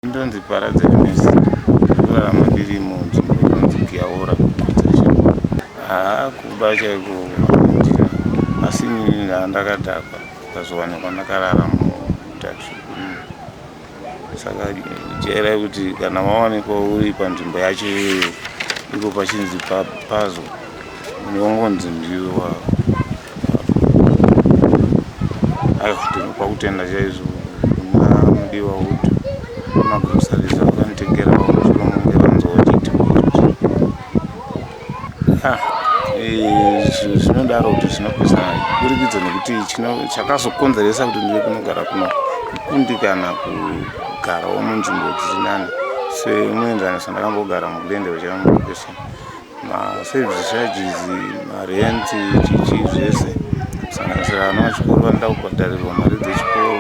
Ndonzi Paradze Ernest, ndinorarama ndiri munzvimbo inonzi Giyaora kuGurudzashamba. Haa kuba chaiko handina, asi inini ndandakadhakwa ndikazowanikwa ndakarara mutaxi umu. Saka jairai kuti kana wawanikwa uri panzvimbo yacho iyoyo, iko pachinzi pa- pazo Ndongonzi ndiwe wako. Ayo ndinopa kutenda chaizvo kuna mudiwa utu. Magurusarisa vakanditegera vakuti vange vanzwa vachiti ah, eh, zvinodaro kuti zvinopesa kuburikidza nekuti chakazokonzeresa kuti ndive kunogara kuno kukundikana kugarawo munzvimbo dzisinani semuenzaniso ndakambogara mugurende vachava mukupesana maservice charges marent chichi zvese kusanganisira vana vachikoro vanoda kubhadharirwa mari dzechikoro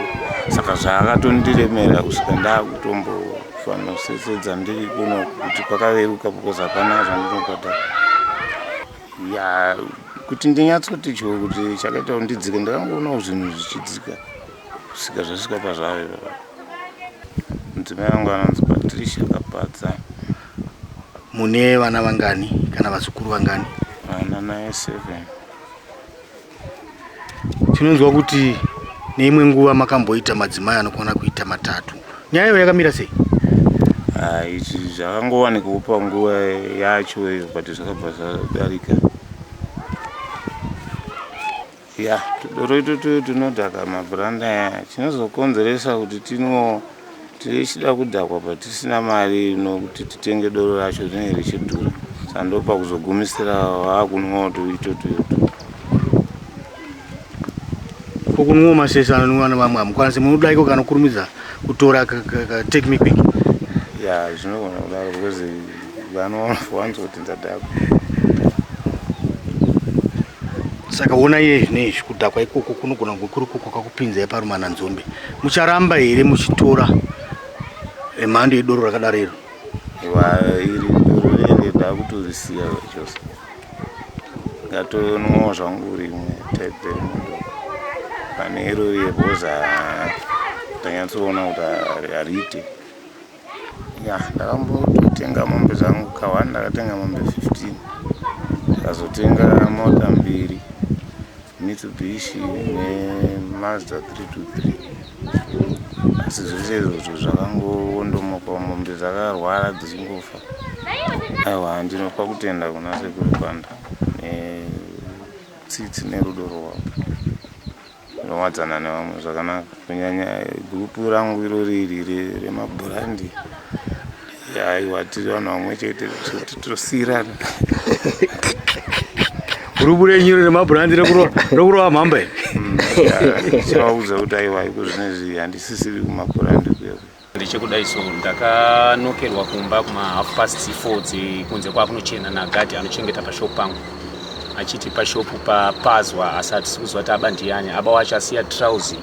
saka zvaakatondiremera kusvika ndaakutombofanira kusesedza ndiri kuno kuti kwakareruka because hapana zvandinobhadhara ya kuti ndinyatsoti choo kuti chakaita kuti ndidzike ndakangoonawo zvinhu zvichidzika kusvika zvasvika pazvave mudzimai vangu vanonzi patricia kapadza Mune vana vangani kana vazukuru vangani? Vana naye seven. Tinonzwa kuti neimwe nguva makamboita madzimai anokwana kuita matatu. Nyaya iyo yakamira sei? Ah, izvi zvakangowanikwa panguva yacho iyo but zvakabva zvadarika. Ya, tudoro itutu tunodhaka mabhuranda aya chinozokonzeresa kuti tino tichida kudhakwa patisina mari ino kuti titenge doro racho rinenge richidhura sandopa kuzogumisira vakunwawo tuitutu utu ko kunwawo masese anonwiwa nevamwe hamukwanisi munoda iko kanokurumidza kutora take me quick ya zvinogona kudaro because vanowanza kuti ndadhakwa saka ona iye zvinezvi kudhakwa ikoko kunogona kunge kuri koko kakupinzai parumana nzombe mucharamba here muchitora emhando yedoro rakadaro iro iri doro rere ndakutorisiya chose ngatonwa zvangu rimwe type remundo pane iro riye bhoza tanyatsoona kuti hariite ya ndakambotenga mombe dzangu kawani ndakatenga mombe 15 ndikazotenga mota mbiri mitsubishi nemazda 323 asi zvese izvozvo zvakangondomoka mombe dzakarwara dzichingofa aiwa ndinopa kutenda kuna sekuru kwanda netsitsi nerudo rwavo Ndinowadzana nevamwe zvakanaka kunyanya group rangu irori iri remabhurandi aiwa tiri vanhu vamwe chete tosiirana gurupu renyu remabhurandi rekurova mhamba iri mm, chavaudza kuti aiwa iko zvinezvi handisisiri kumabhurandi kuya Ndichekudai so ndakanokerwa kumba kuma half past 4 dzekunze kwakunochena nagadi anochengeta pashop pangu achiti pashop papazwa asi hatisi kuziva kuti aba ndiyani aba wacho asiya trousi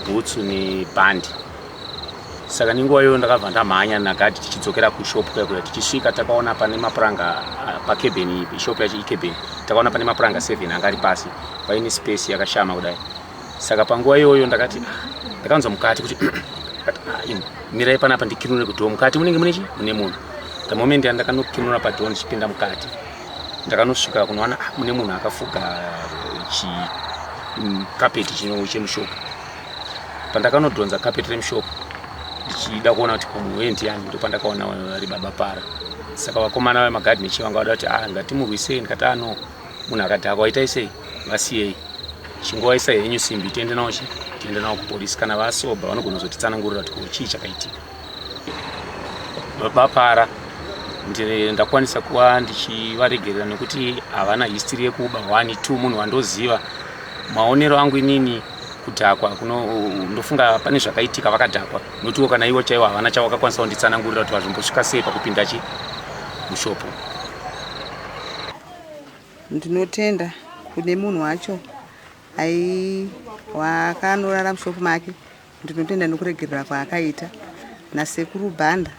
bhutsu nebhandi saka nenguva iyoyo ndakabva ndamhanya nagadi tichidzokera kushop kuyakuya tichisvika takaona pane mapuranga ah, pakebeni shop yacho ikebeni takaona pane mapuranga 7 anga ari pasi paine space yakashama kudai saka panguva iyoyo ndakati ndakanzwa mukati kuti mirai panapa ndikinure kudhoo mukati munenge mune chi mune munhu the moment yandakanokinura padhoo ndichipinda mukati ndakanosvika kunowana ah, mune munhu akafuga chikapeti mm, chino chemushopu pandakanodhonza kapeti remushopu ndichida kuona kuti munhu wee ndiyani ndo pandakaona vari baba para saka vakomana vemagadhi nechivangu vada kuti ah, ngatimurwisei ndikati ano ah, munhu akadhakwa itai sei vasiyei chingovaisa henyu simbi tiende nawo chi tiende nawo kupolisi kana vasoba vanogona kuzotitsanangurira kuti ko chii chakaitika vapara ndakwanisa kuva ndichivaregerera nekuti havana history yekuba one two munhu wandoziva maonero angu inini kudhakwa ndofunga pane zvakaitika vakadhakwa notiwo kana ivo chaivo havana chawakakwanisa kunditsanangurira kuti vazvombosvika sei pakupinda chi mushopo Ndinotenda kune munhu wacho aiwa akanorara mushop make ndinotenda nokuregerera kwaakaita nasekuru bhanda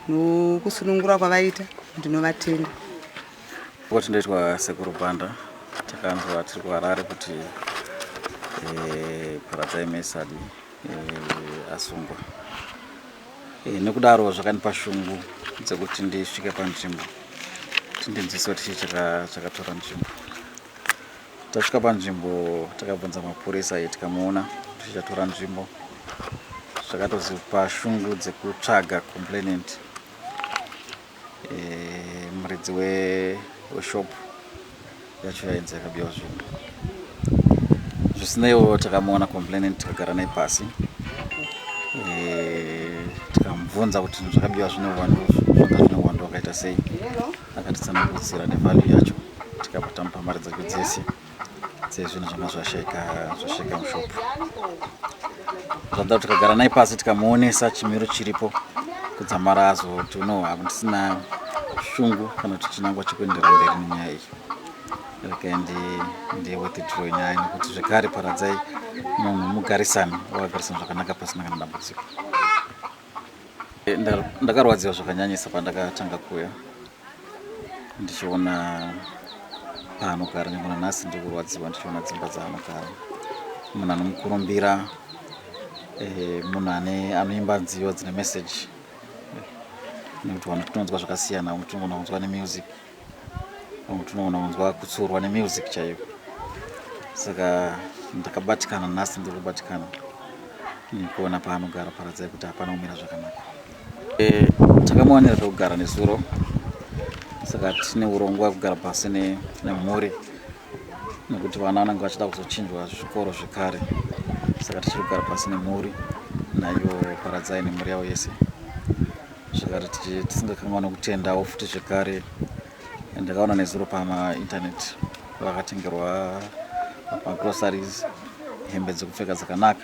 nokusunungura kwavaita ndinovatenda kuti ndoitwa sekuru bhanda takanzwa tiri kuharare kuti eh, paradzai mesadi asungwa e, nekudaro zvakandipa shungu dzekuti ndisvike panzvimbo tindinzwise kuti chii chakatora nzvimbo tasvika panzvimbo takabvunza mapurisa ayi tikamuona kuti chatora nzvimbo zvakatozipa shungu dzekutsvaga complainant eh, muridzi weshop yacho yainzi yakabiwa zvinhu zvisineiwo takamuona complainant tikagara naye pasi eh, tikamubvunza kuti zvinhu zvakabiwa zvine uwandu zvanga zvine uwandu wakaita sei akatitsanangudzira nevalue yacho tikabva tamupa mari dzake dzese Sei zvinhu zvanga zvasheka zvasheka mushop. Zvanda kuti kagara naye pasi tikamuonesa chimiro chiripo kudzamara azoti uno hakusina shungu kana kuti chinangwa chekuendera mberi nenyaya iyi. Rakaendi ndiye wetidro nyaya nekuti zvekare paradzai munhu mugarisani wakagarisana zvakanaka pasina kana dambudziko. Ndakarwadziwa zvakanyanyisa pandakatanga kuuya ndichiona paanogara nyange nanhasi ndiri kurwadziwa ndichiona dzimba dzaanogara munhu anomukurumbira eh, munhu ane anoimba nziyo dzine message nekuti vanhu tinonzwa zvakasiyana vamwe tinogona kunzwa nemusic mutunoona unzwa kutsurwa nemusic chaiyo saka ndakabatikana nhasi ndiri kubatikana nekuona paanogara paradzai kuti hapana kumira zvakanaka e, takamuwanira pekugara nezuro saka tine urongwa kugara pasi nemhuri nekuti vana vanenge vachida kuzochinjwa zvikoro zvekare saka tichiri kugara pasi nemhuri nayo paradzai nemhuri yavo yese zvekare tichi- tisingakanganwa kutendawo futi zvekare and ndakaona nezuro pamainternet vakatengerwa magroceries hembe dzekupfeka dzakanaka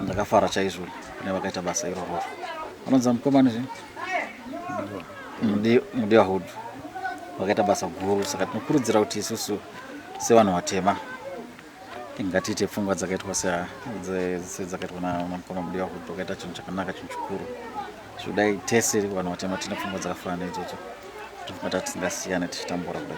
ndakafara chaizvo kune vakaita basa iroro anonzi mukomana zve Mudi- mudiwa hood vakaita basa guru saka tinokurudzira kuti isusu sevanhu vatema ngatiite pfungwa dzakaitwa sedzakaitwa namukoma mudiwa kuti tokaita chinhu chakanaka chinhu chikuru zvodai tese vanhu vatema tine pfungwa dzakafanana idzodzo tofunga tatisingasiyane tichitambura kudai